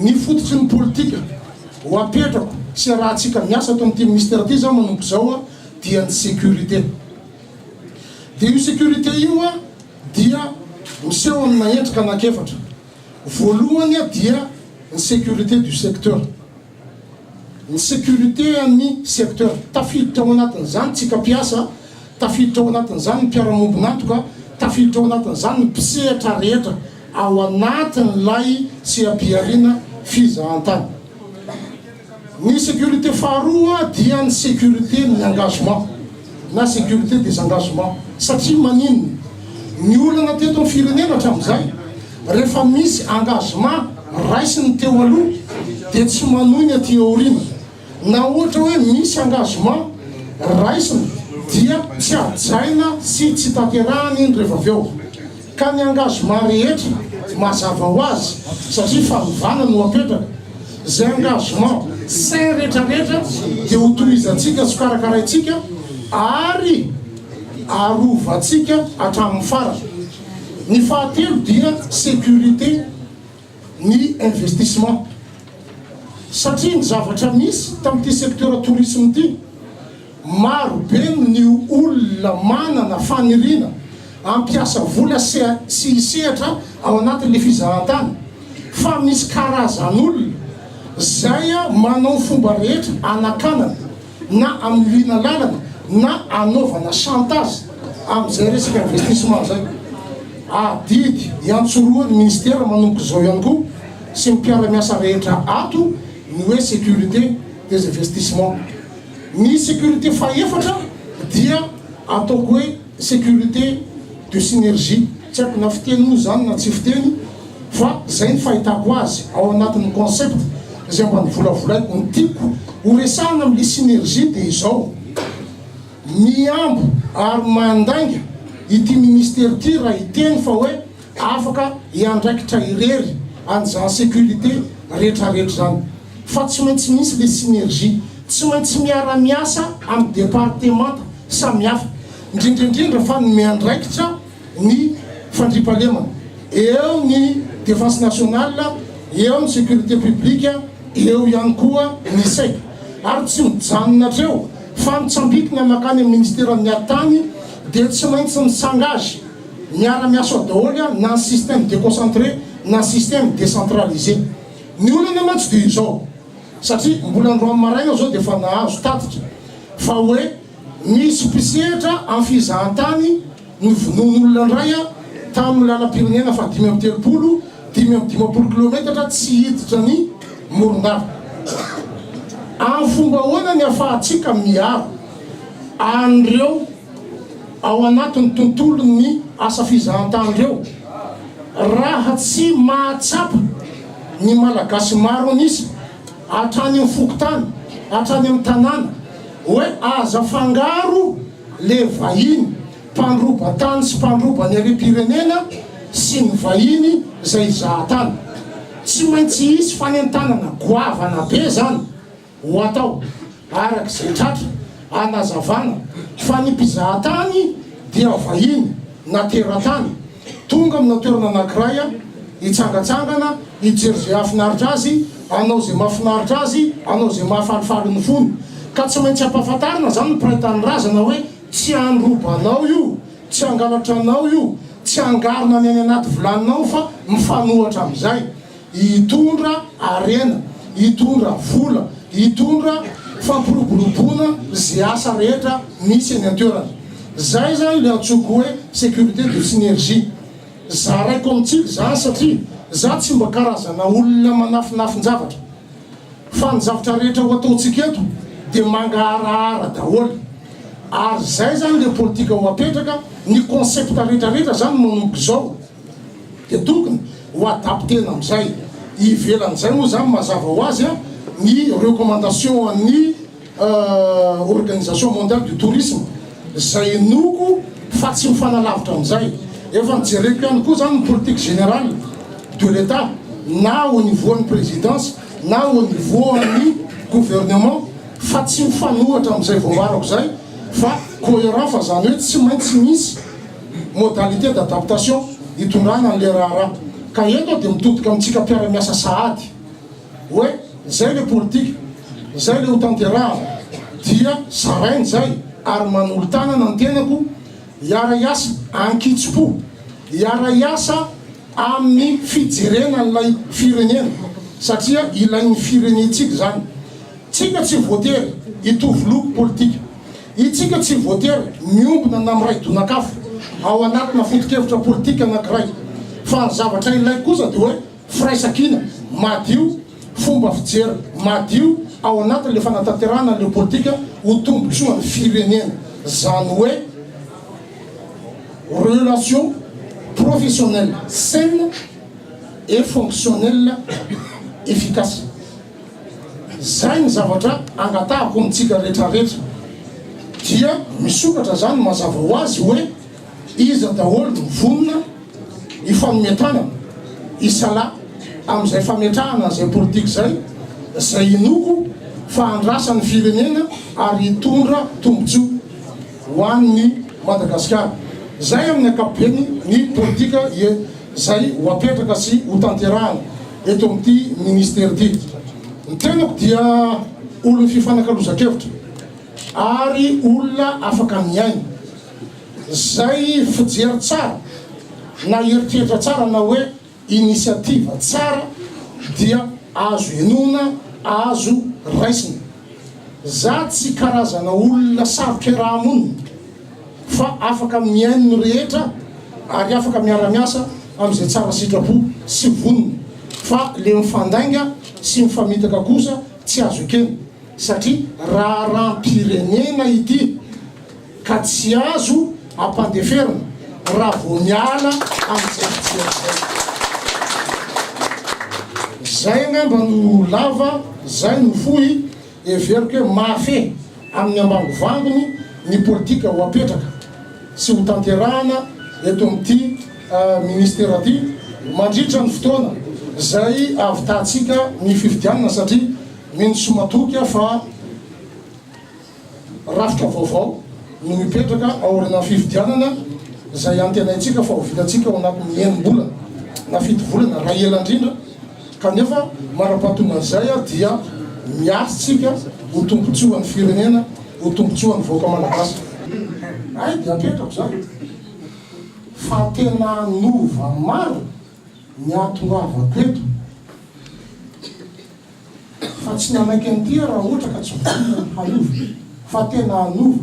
Ny fototry ny politika ho apetrako sy arahantsika miasa ato amin'ity minisitera ity izao manomboka izao dia ny sécurité. Dia io sécurité io dia miseho amina endrika anankiefatra. Voalohany dia ny sécurité du secteur. Ny sécurité an'ny secteur. Tafiditra ao anatin'izany tsika mpiasa, tafiditra ao anatin'izany ny mpiara-miombon'antoka, tafiditra ao anatin'izany ny mpisehatra rehetra ao anatin'ilay seha-pihariana fizahantany. Ny sécurité faharoa dia ny sécurité ny engagement. na sécurité des engagements satria maninona? Ny olana teto amin'ny firenena hatramin'izay rehefa misy engagement raisiny teo aloha dia tsy manohy ny aty aoriana na ohatra hoe misy engagement raisina dia tsy hajaina sy tsy tanterahany iny rehefa avy eo. Ka ny angazement rehetra mazava ho azy satria fanovana no apetraka, zay engagement sain retraretra dia ho tohizantsika sy karakaraintsika ary arovantsika hatramin'ny farany. Ny fahatelo dia sécurité ny investissement satria ny zavatra misy tamin'ity secteur tourisme ity, Maro be ny olona manana faniriana hampiasa vola sy hisehatra ao anatin'ny fizahantany fa misy karazan'olona izay manao ny fomba rehetra hanakanana na hamiliana lalana na hanaovana chantage amin'izay resaka investissement izay. Adidy iantsorohan'ny Minisitera manomboka izao ihany koa sy ny mpiara-miasa rehetra ato ny hoe sécurité des investissements. Ny sécurité fahefatra dia ataoko hoe sécurité de synergie, tsy haiko na fiteny moa izany na tsy fiteny fa izay ny fahitako azy ao anatin'ny concept izay mba novolavolaiko. Ny tiako horesahana amin'ilay synergie dia izao, mihambo ary mandainga ity ministera ity raha hiteny fa hoe, Afaka hiandraikitra irery an'izany sécurité retraretra izany fa tsy maintsy misy le synergie, tsy maintsy miara-miasa amin'ny departemanta samihafa, indrindraindrindra fa ny miandraikitra ny fandriampahalemana, eo ny Défense nationale, eo ny sécurité publique, eo ihany koa ny sec. Ary tsy mijanona hatreo fa mitsambikina mankany amin'ny ministeran'ny ady tany dia tsy maintsy mi-s'engage, Miara miasa ao daholo an, na ny système déconcentré na système décentralisé. Ny olana mantsy dia izao, satria mbola androany maraina izao dia efa nahazo tatitra fa hoe misy mpisehatra amin'ny fizahantany novonoin'olona indray an, tamin'ny lalam-pirenena faha dimy amby telopolo, dimy amby dimampolo kilometatra tsy hiditra ny Morondava. Amin'ny fomba ahoana ny ahafahantsika miaro an'ireo? ao anatin'ny tontolon'ny asa fizahantany ireo raha tsy mahatsapa ny Malagasy maro an'isa hatrany amin'ny fokontany, hatrany amin'ny tanàna hoe aza afangaro le vahiny mpandroba tany sy mpandroba ny harem-pirenena sy ny vahiny izay hizaha tany. Tsy maintsy hisy fanentanana goavana be izany. Ho atao, araka izay tratra, anazavana fa ny mpizahatany dia vahiny na teratany tonga amina toerana anankiray hitsangatsangana, hijery izay hahafinaritra azy, hanao izay mahafinaritra azy, hanao izay mahafalifaly ny fony. Ka tsy maintsy ampahafantarina izany ny mpiray tanindrazana hoe tsy handrobanao io, tsy hangalatra anao io, tsy hangarona ny any anaty vilaninao fa mifanohatra amin'izay. hitondra harena, hitondra vola, hitondra fampiroboroboana ze asa rehetra misy eny an-toerana. Zay zany le antsoiko hoe sécurité de synergie. Zaraiko amintsika zany satria za tsy mba karazana olona manafinafin-javatra fa ny zavatra rehetra ho ataontsika eto de mangaharahara daholo ary zay zany le politika ho apetraka, ny concept retraretra zany manomboka izao. Dia tokony ho adapter-na amin'izay ivelan'izay moa izany mazava ho azy ny recommandation an'ny organisation mondiale du tourisme izay inoako fa tsy mifanalavitra amin'izay. Efa nojereko ihany koa izany ny politique générale de l'Etat na au niveau an'ny présidence na au niveau an'ny gouvernement fa tsy mifanohitra amin'izay voambarako izay fa cohérent fa izany hoe tsy maintsy misy modalités d'adaptation hitondrana an'ilay raharaha. Ka eto aho dia mitodika amintsika mpiara-miasa sahady hoe izay ilay politika, izay ilay hotanterahana dia zaraina izay ary manolo-tanana ny tenako hiara-hiasa an-kitsim-po, hiara-hiasa amin'ny fijerena an'ilay firenena satria ilain'ny firenentsika izany. Tsika tsy voatery hitovy loko politika. Isika tsy voatery miombona na miray donak'afo ao anatina foto-kevitra politika anankiray, fa ny zavatra ilaiko kosa dia hoe firaisankina madio, fomba fijery madio ao anatin'ilay fanatanterahana an'ilay politika ho tombontsoan'ny firenena, izany hoe relation professionnelle saine et fonctionnelle efficace. Izay ny zavatra angatahako amintsika rehetra rehetra. Dia misokatra izany mazava ho azy hoe iza daholo no vonona hifanome tanana, hisalahy amin'izay fametrahana an'izay politika izay, izay inoako fa handrasa ny firenena ary hitondra tombontsoa ho an'ny Madagasikara. Izay amin'ny ankapobeny ny politika izay ho apetraka sy ho tanterahana. eto amin'ity Ministera ity. Ny tenako dia olon'ny fifanakalozan-kevitra ary olona afaka mihaino izay fijery tsara na eritreritra tsara na hoe initiative tsara dia azo henoina, azo raisina. Za tsy karazana olona sarotra iaraha-monina fa afaka mihaino ny rehetra ary afaka miara-miasa amin'izay tsara sitrapo sy vonona, fa le mifandainga sy mifamitaka kosa tsy azo ekena satria raharaham-pirenena ity ka tsy azo ampandeferina raha vao miala amin'izay fijery izay. Zay angamba no lava, zay no fohy. Heveriko hoe mahafehy amin'ny ambangovangony ny politika ho apetraka sy ho tanterahana eto amin'ity Minisitera ity mandritra ny fotoana izay ahavitahantsika ny fifidianana satria mino sy matoky aho fa rafitra vaovao no hipetraka aorianan'ny fifidianana izay antenaintsika fa ho vitantsika ao anatin'ny enim-bolana na fito volana raha ela indrindra. Kanefa, manam-pahatonga an'izay ary dia miasa isika ho tombotsoan'ny firenena, ho tombotsoan'ny vahoaka malagasy. Hay dia apetrako izany fa tena hanova maro ny ahatongavako eto fa tsy nanaiky an'ity aho raha ohatra ka tsy vonona ny hanova fa tena hanova.